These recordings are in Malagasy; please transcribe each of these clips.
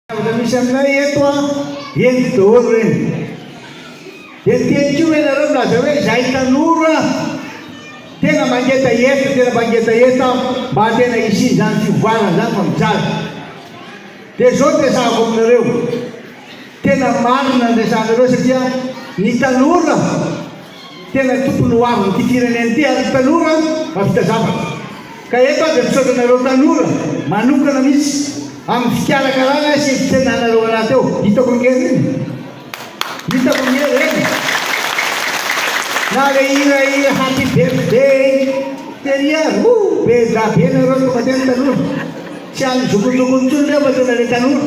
Zavatra misy aminay eto an, henoko daholo ireny. Dia niteny koa ve ianareo milaza hoe izahay tanora tena mangetaheta, tena mangetaheta mba tena hisian'izany fivoarana izany fa mijaly. Dia izao no resahako aminareo, tena marina ny resahanareo satria ny tanora, Tena tompony ho avin' ity firenena ity ary tanora mahavita zavatra. Ka eto aho dia misaotra anareo tanora manokana mihitsy amin' ny fikarakarana sy fitsenanareo anaty eo. Hitako ny hery iny. Hitako ny hery eny. Na le hira hira happy birthday tery ary oh be da be nareo tonga teny tanora. Tsy any jokonjokony intsony reo fa tena le tanora.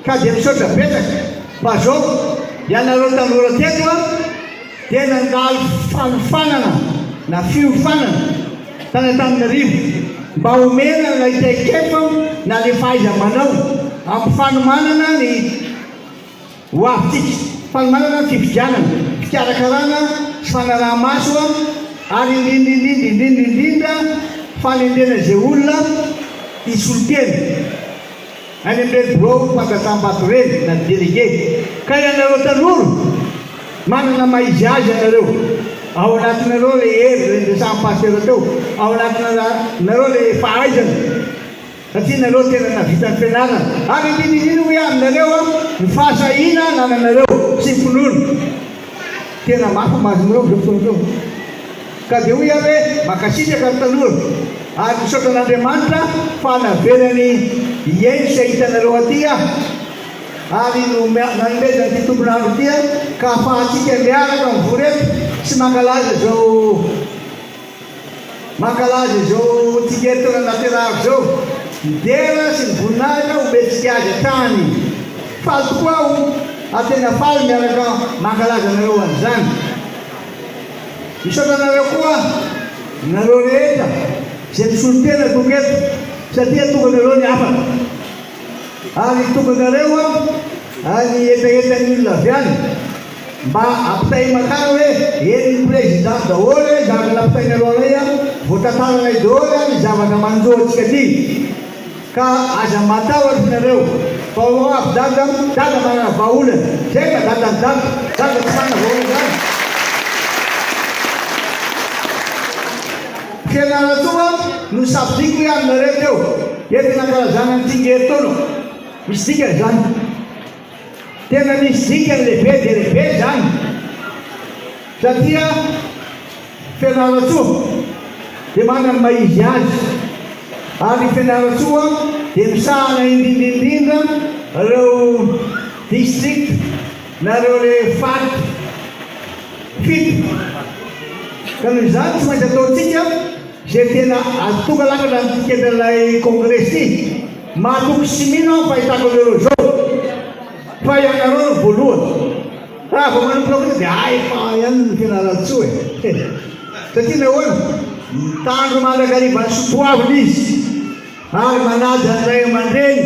Ka dia misaotra betsaka fa zao ianareo tanora teto a dia nandalo fanofanana na fiofanana tany Antananarivo mba omena ilay traikefa na le fahaiza manao ampifanomanana ny ho avintsika fanomanana ny fifidianana fikarakarana sy fanaraha maso a ary indrindrindrindra indrindrindrindra fanendrena izay olona hisolo tena Any amin'ireny birao fandrasam-bato ireny na délégué. Ka ianareo tanora, manana maha izy azy ianareo. Ao anatinareo ilay hery, ilay niresahan'i Pasitera teo. Ao anatinareo ilay fahaizana, satria nareo tena nahavita ny fianarana. Ary andinindino hoe aminareo ny fahasahiana anananareo sy ny finoana. Tena mafy ny masonareo amin'izao fotoana izao. Ka dia hoy aho hoe mankasitraka ry tanora ary misaotra an'Andriamanitra fa navelany hihaino sy hahita anareo aty aho ary nanomezany ity tompon'andro ity aho ka afahantsika miaraka mivory eto sy mankalaza izao mankalaza izao tsingerin-taona nahaterahako izao. Midera sy ny voninahitra homentsika azy hatrany. Faly tokoa aho ary tena faly miaraka mankalaza anareo an'izany. Misaotra anareo koa aho, nareo rehetra izay misolo tena tokoa eto satria tonganareo ny hafatra. Ary tonganareo aho ary ny hetahetan'ny olona avy any mba ampitahimakany hoe eny ny Président daholo hoe zavatra napitainareo anay voatantaranay daholo ary ny zavatra manjo antsika aty. Ka aza matahotra ianareo fa ho avy dada dada manana vahaolana zay ka dadan'i dago dago tsy manana vahaolana zany fianarantsoa no sabotsiko hoe aminareo teo eto nankalazana ny tsingery teo no misy dikany zany. Tena misy dikany lehibe dia lehibe izany satria Fianarantsoa dia manana ny maha izy azy ary Fianarantsoa dia misahana indrindra indrindra ireo district na ireo le fat fito ka noho izany tsy maintsy ataontsika izay tena azo tonga lafatra ny tiketan'ilay congrès ity. Mahatoky sy mino aho ny fahitako an'ireo izao fa ianareo no voalohany. Raha vao manomboka fotsiny dia hay fa ihany ny tena Raltso e! He! Satria nahoana? Mitandro mandrakariva ny soatoavina izy ary manaja ny ray aman-dreny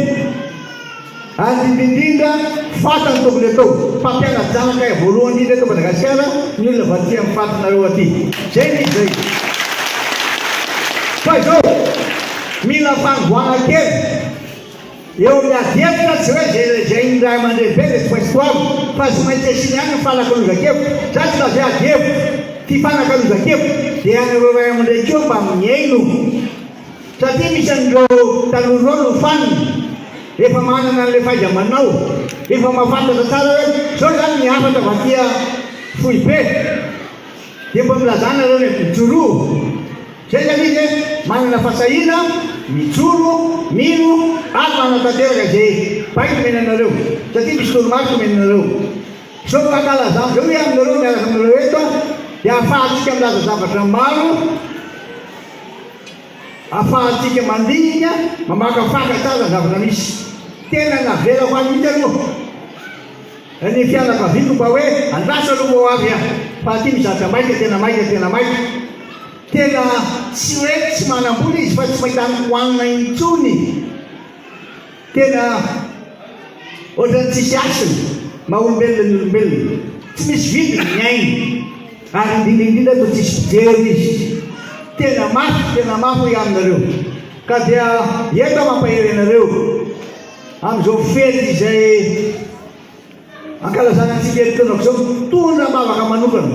ary indrindra indrindra fantany tokony atao. Mpampiana-janaka voalohany indrindra eto Madagasikara ny olona vatsian' ny fatinareo aty. Izay ny izay. Fa izao! Mila fanovoana kely eo ny ady hevitra, tsy hoe izay lazain'ny ray aman-dreny be dia tsy maintsy goavana, fa tsy maintsy asiana ihany ny fanakalozan-kevitra, zany tsy lazaina ady hevitra, ty fanakalozan-kevitra dia anareo ray aman-dreny koa mba mihaino satria misy an'ireo tanora ireo no fanina efa manana an'ilay fahaiza-manao, efa mahafantatra tsara hoe izao izany ny hafatra vakia foibe. Dia mba milazà nareo ny aty Joroa. Zay zany izy hoe manana fahasahiana, mijoro, mino ary manatanteraka izay baiko omena anareo, satria misy toromarika omena anareo. Izao no ankalazan'ny Zao hoe aminareo miaraka aminareo eto dia ahafahantsika milaza zavatra maro, ahafahantsika mandinika, mamakafaka tsara ny zavatra misy. Tena navelako any mihitsy aloha. Ry ny fianakaviako mba hoe andraso aloha moa avy a! Fa aty mizatra maika tena maika tena maika! Tena tsy hoe tsy manam-bola izy fa tsy mahita ny hohanina intsony! Tena ohatran'ny tsisy hasiny! Maha olombelona ny olombelona! Tsy misy vidiny ny ainy! Ary indrindra indrindra toa tsisy mpijery izy! Tena mafy tena mafy hoy aminareo! Ka dia eto aho mampahery anareo! Amin'izao fety izay ankalazana antsika herintaonako izao, mitondra vavaka manokana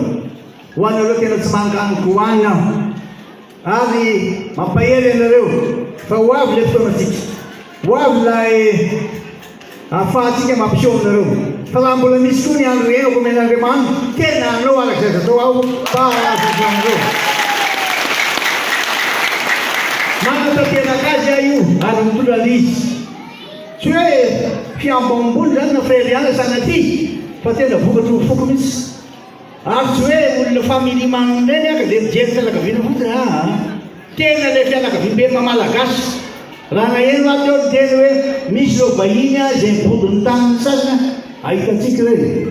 ho anareo tena tsy mangan'ny Koany aho ary mampahery anareo fa ho avy ilay fotoanantsika, ho avy ilay ahafahantsika mampiseho aminareo. Raha mbola misy koa ny andro iainako omena Andriamanitra, tena hanao araka izay azo atao aho mba hahazo izao andro izao. Manatanteraka azy aho io ary mitondra an' izy. Tsy hoe fihambo ambony izany na fahery iala sanatria, fa tena vokatry ny foko mihitsy. Ary tsy hoe olona family man ireny aka dia mijery fianakaviana fotsiny aa. Tena ilay fianakaviam-be maha-malagasy. Raha naheno aho teo ny teny hoe misy ireo vahiny aa izay mibodo ny tany ny sasany aa. Ahitantsika ireo e.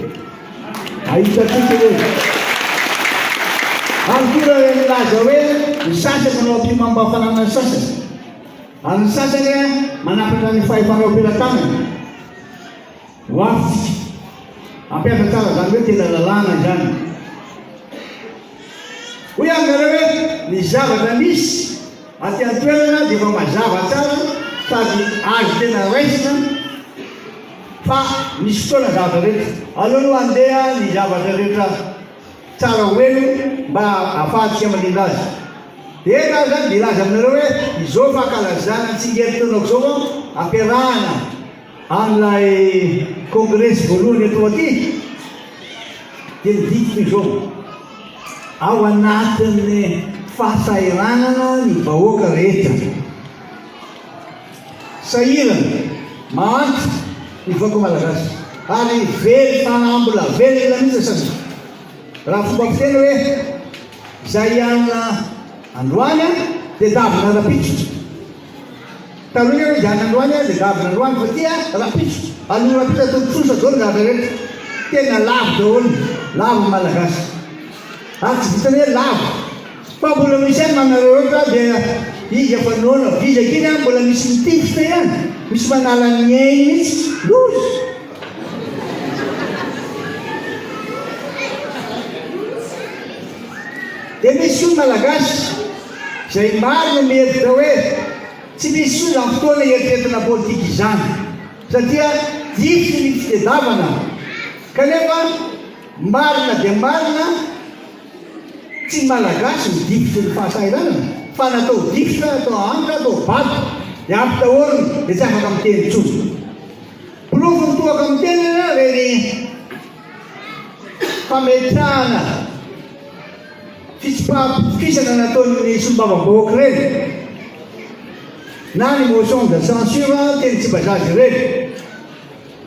Ahitantsika ireo e. Ary koa ireo milaza hoe ny sasany manao ampihomam-pahafanana ny sasany. Ary ny sasany aa manapatra ny fahefana eo am-pelatanany. Ho avy. Ampiasa tsara izany hoe tena lalàna izany. Hoy aho aminareo hoe ny zavatra misy aty an-toerana dia efa mazava tsara sady azo tena raisina fa misy fotoana ny zavatra rehetra. Aleo aloha handeha ny zavatra rehetra tsara ho elo mba ahafahantsika mandrindra azy. Dia eto aho izany dia hilaza aminareo hoe izao fankalazana ny tsingerin-taonako izao ampiarahana Ary ilay kongresy voalohany eto aty dia midika izao, ao anatin'ny fahasahiranana ny vahoaka rehetra. Sahirana, mahantra ny vahoaka malagasy ary very fanahy mbola velona mihitsy asan'ny raha fomba fiteny hoe izay hianina androany dia davina rahampitso. Taloha ianao izany androany an, dia zavona androany fa ity an, rapitso, alou rapitso ataovy trosa daholo ny zavatra rehetra. Tena lavo daholo, lavo ny Malagasy. Ary tsy vitan'ny hoe lavo. Fa mbola misy ihany manareo loatra dia izy efa noana vizaka iny an, mbola misy mitifitra ihany, misy manala ny ainy mihitsy. Loza! Dia misy koa ny Malagasy. Izay maro no mihevitra hoe tsy misy soa izany fotoana hieritreritra politika izany satria hiditra ny fitedavana kanefa marina dia marina tsy ny Malagasy no difotry ny fahasahiranana fa na atao difotra, atao anka, atao vato dia ampy daholo dia tsy afaka miteny intsony. Porofo ny toaka miteny ireny fametrahana fitsipaham-pitokisana nataon'ny solombavambahoaka ireny na ny motion de censure teny Tsimbazaza ireny.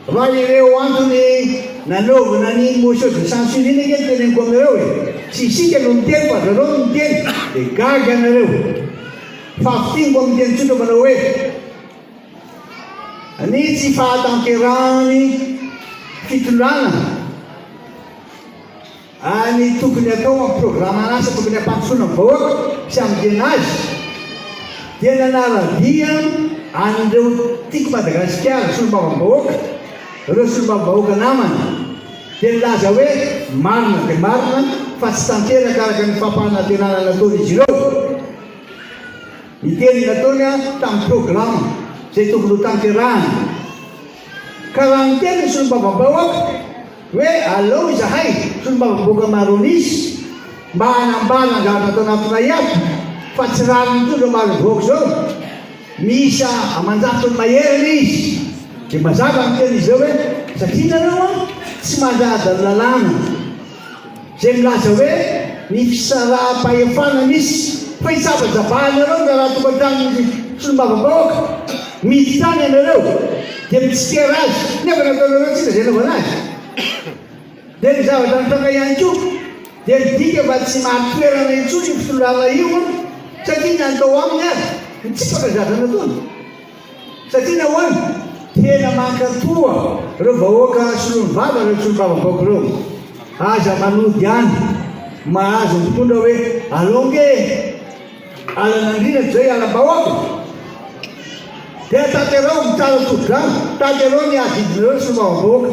Raha ireo antony nanaovana ny motion de censure iny ange no teneniko aminareo e! Tsy isika no miteny fa zareo no miteny dia gaga ianareo. Fahafintiniko amin'ny teny tsotra manao hoe ny tsy fahatanterahan'ny fitondrana. Any tokony atao amin'ny programan'asa tokony hampandrosoana ny vahoaka sy hamonjena azy dia nanara-dia an'ireo Tiako Madagasikara, Solombavambahoaka, ireo Solombavambahoaka namana dia nilaza hoe marina dia marina fa tsy tanteraka araka ny fampanantenana nataon'izy ireo ny teny nataony tamin'ny programa izay tokony ho tanterahana ka raha niteny ny Solombavambahoaka Hoe aleo izahay solombavambahoaka Maronis mba hanambara ny zavatra ato anatinay ato fa tsy rariny intsony zao Marovoaka izao, miisa aman-jato ny maherana izy, dia mazava ny teny izy ireo hoe satria nareo an tsy mandraja ny lalàna. izay milaza hoe ny fisaraham-pahefana misy fa hisabajabahana ireo raharaha tokantranon'ny solombavambahoaka mihidy tany ianareo dia mitsikera azy nefa nataonareo tsinona izay anaovana azy dia ny zavatra nitranga ihany koa dia midika fa tsy mahatoerana intsony io mpisolo lalana io satria ny natao aminy aza mitsipaka ny zavatra nataony Satria nahoana? Tena mankatoa reo vahoaka solony vava reo solombavambaoko reo. Aza manody any mahazo mpitondra hoe alou nge alan'andriana toy zay hialambahoaka. Dia taterao mitala todi-drano, taterao ny adidinareo ry solombavambahoaka.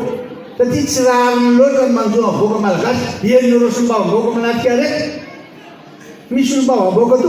Satria tsy rariny loatra ny manjo am vahoaka malagasy. Henonareo solombavambahoaka manatrika arety. Misy solombavambahoka toa.